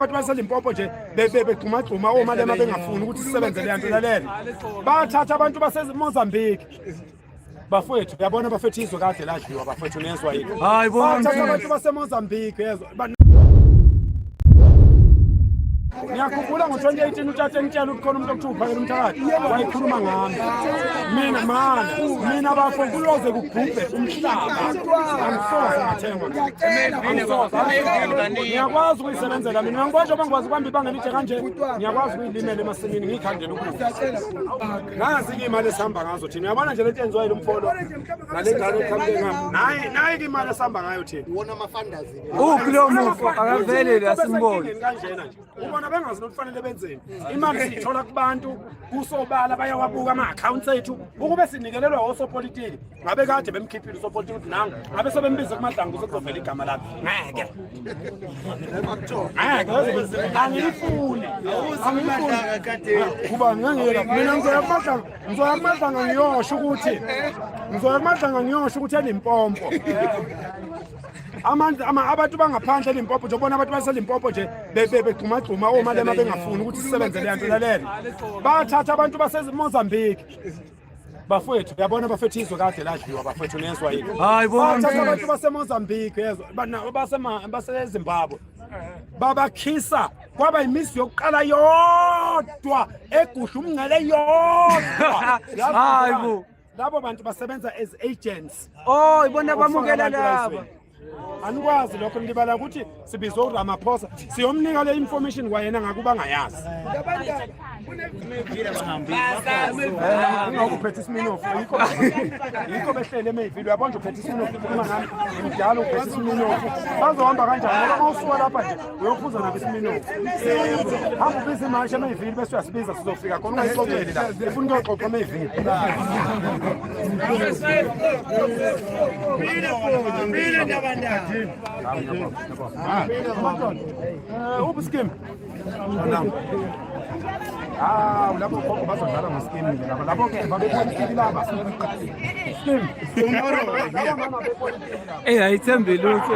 abantu baselimpopo nje begxumagxuma omalema bengafuni ukuthi sisebenze leya nto lalele bathatha abantu basemozambique bafowethu uyabona bafethu izwe kade ladliwa bafowethu nezwa yini hayi bathatha abantu basemozambique yezwa ngiyakhumbula ngo-2018 utata engitshela ukuthi khona umuntu okuthiwa uphakela umthakathi wayikhuluma ngami mina mana mina bafo kuloze kugubhe umhlaba angisoze ngathengwa ngiyakwazi isebenzela mina ngibosho bangikwazi kwambi bangelitshe kanje ngiyakwazi ukuyilimela emasimini ngiyikhandela ukudla ngazi ke imali esihamba ngazo thina uyabona nje lento yenziwa yilo mfolo nale ngane ekhambe ngami nayi nayi ke imali esihamba ngayo thina uwona amafandazi uphi lo mufo akavelele asimboni kanjena nje ubona bengazi nokufanele benzeni imali siyithola kubantu kusobala bayawabuka ama-accounts ethu ukube sinikelelwa osopolitiki ngabe kade bemkhiphile usopoti ukuthi nanga ngabe sebembize kumadlangu sekuzovela igama lakhe ngeke angiyifuni kuba ngangiyela mina ngizoya kumadlanga ngizoya kumadlanga ngiyosho ukuthi ngizoya kumadlanga ngiyosho ukuthi enempompo abantu abantu bangaphandle elimpopo nje ubona abantu baselimpopo nje begxumagxuma omalema bengafuni ukuthi sisebenze leyanto lalela bathatha abantu basemozambique bafowethu yabona bafethu izwe kade ladliwa bafethu nezwa yini hayi bona abantu basemozambique yezwa basezimbabwe babakhisa kwaba yimizi yokuqala yodwa egusha umngcele yodwa hayi bo labo bantu basebenza as agents oh ibona bamukela laba anikwazi lokho nilibala ukuthi sibizwe uramaphosa siyomnika le information kwayena ngakuba ngayazi ungakuphetha isminof yikho behlele emeyivile uyabona nje uphetha isminof uma ngami ngimdala uphetha isminof bazohamba kanjani ngoba uma usuka lapha nje uyophuza nabo isiminofu hamba ubiza imashi ameyivili bese uyasibiza sizofika khona ungayixoxeli la ifuna ukuyoxoxa ameyivili uphi skim hawu labo gogo bazodlala ngesikimu ke laba labo ke babepolitiki laba sikimu eyi ayithembi lutho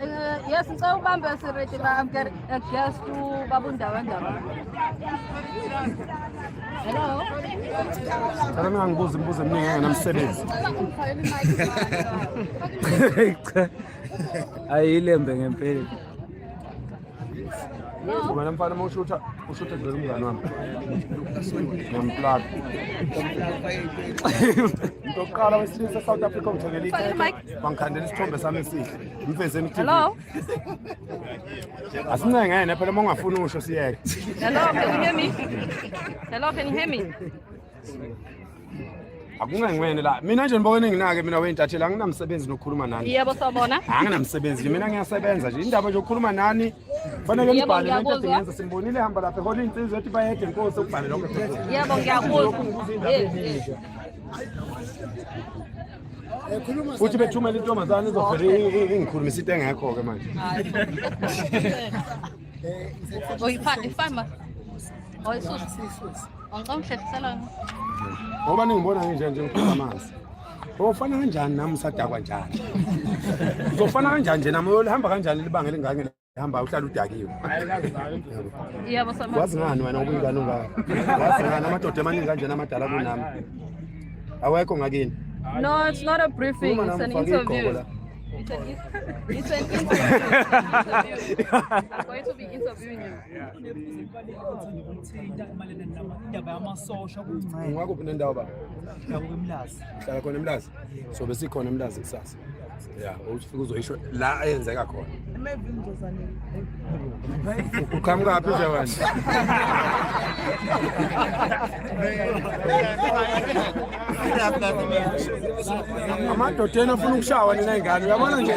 Uh, yes, ngicela ubambe siredi ba I'm getting a guest to babundaba ndaba. Hello. Cela ningangibuzi imibuzo eminingi engenamsebenzi. Ayilembe ngempela. Wena mfana uma ushutha ushutha dlula umngane wami. Ngiyamplaka. Into oqala wesilisa South Africa ngithengele ikhekhe. Bangikhandela isithombe sami esihle. Ngifezeni iTV. Hello. Asincengene phela uma ungafuni usho siyeke. Hello, can you hear me? Hello, can you hear me? akungangiwene la mina nje nibona enginake mina weyintatheli anginamsebenzi nokukhuluma nani yebo sawubona anginamsebenzi mina ngiyasebenza nje indaba nje yokukhuluma nani fanele nibhale lento edingenza simbonile hamba lapha ehola iy'nsizwa ethi bayede nkosi ukubhale lokho yebo ngiyakuzwa futhi bethumela intombazane izovele ingikhulumisa into engekho-ke manje oyifani ifani ma oyisusa Ngicela ukuhlehlisela ngoba ningibona nginje nje ngiphuza amanzi ufana kanjani nami usadakwa njani uzofana kanjani nje nami uyolihamba kanjani libanga elingake hamba uhlala udakiwe wazi ngani wena ubuyingane ungaka wazi ngani amadoda emaningi kanjena amadala kunami awekho ngakini no it's not a briefing it's an interview It's an, it's an interview. I'm going to be interviewing you. ungakho phina ndawo baba hlala khona emlazi so besikhona emlazi kusasa ya ufika uzoyisho la ayenzeka khona uqhamukaphi nje wena amadodeni afuna ukushawa nina ingane uyabona nje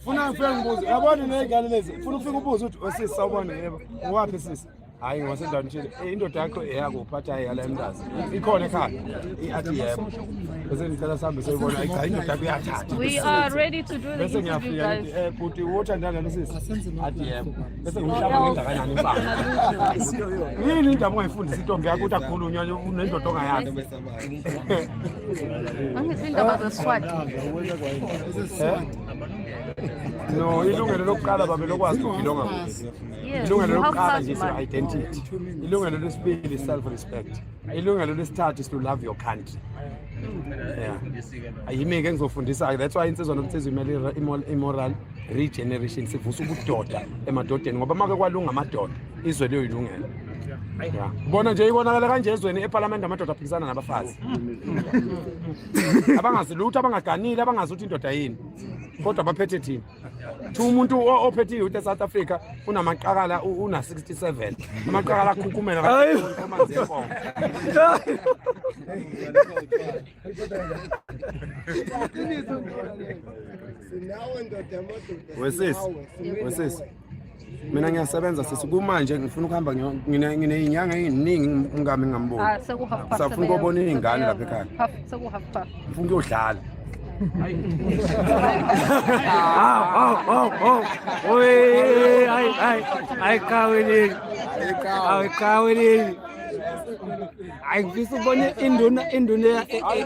funa ngifike ngibuze uyabona nina ingane lezi funa ukufika ubuze ukuthi osisi sawubona yebo ngowaphi sisi hayi ngosendaweni thile eh, indoda yakho eyakuphi athi hayi yala emntazi ikhona ekhaya athi yebo bese ngicela sihambe soyibona ayi cha indoda yakho iyathatha we are ready to do bese ngiyafika ngithi eh bhuti wothandana nosisi athi yebo bese ngimhlaba ngengakanani impanga yini indaba ongayifundisa intombi yakho ukuthi akhulunywa unendoda ongayazi no ilungelo lokuqala babe lokwazi ukugilonga ilungelo lokuqala nje si-identity ilungelo lesibili i-self respect ilungelo lesithathu is to love your country yimi ke ngizofundisa-ke that's why insizwa nomsizwa imele i-moral regeneration sivusa ubudoda emadodeni ngoba make kwalunga amadoda izwe liyoyilungela bona nje ibonakala kanje ezweni epalamende amadoda aphikisana nabafazi abangazi lutho abangaganile abangazi ukuthi indoda yini kodwa baphethe thina thi umuntu ophethe i-youth esouth africa unamaqakala una-67 amaqakala akhukhumela wesisi wesisi mina ngiyasebenza sisi kumanje ngifuna ukuhamba nginey'nyanga ey'ningi umkami ngingamboni ah, safuna ukobona iy'ngane lapha ekhaya ngifuna ukuyodlala ayikaweleli ayikaweleli hayi ngifisa ubone induna induna e- e-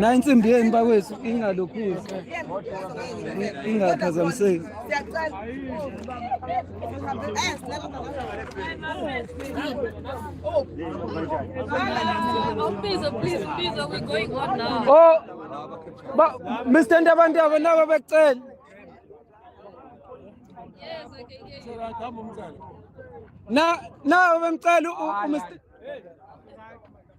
na insimbi yenu bakwethu ingalokhuzi ingaphazamiseki oh mr ndabantu abo nabo becela na nabo bemcela umr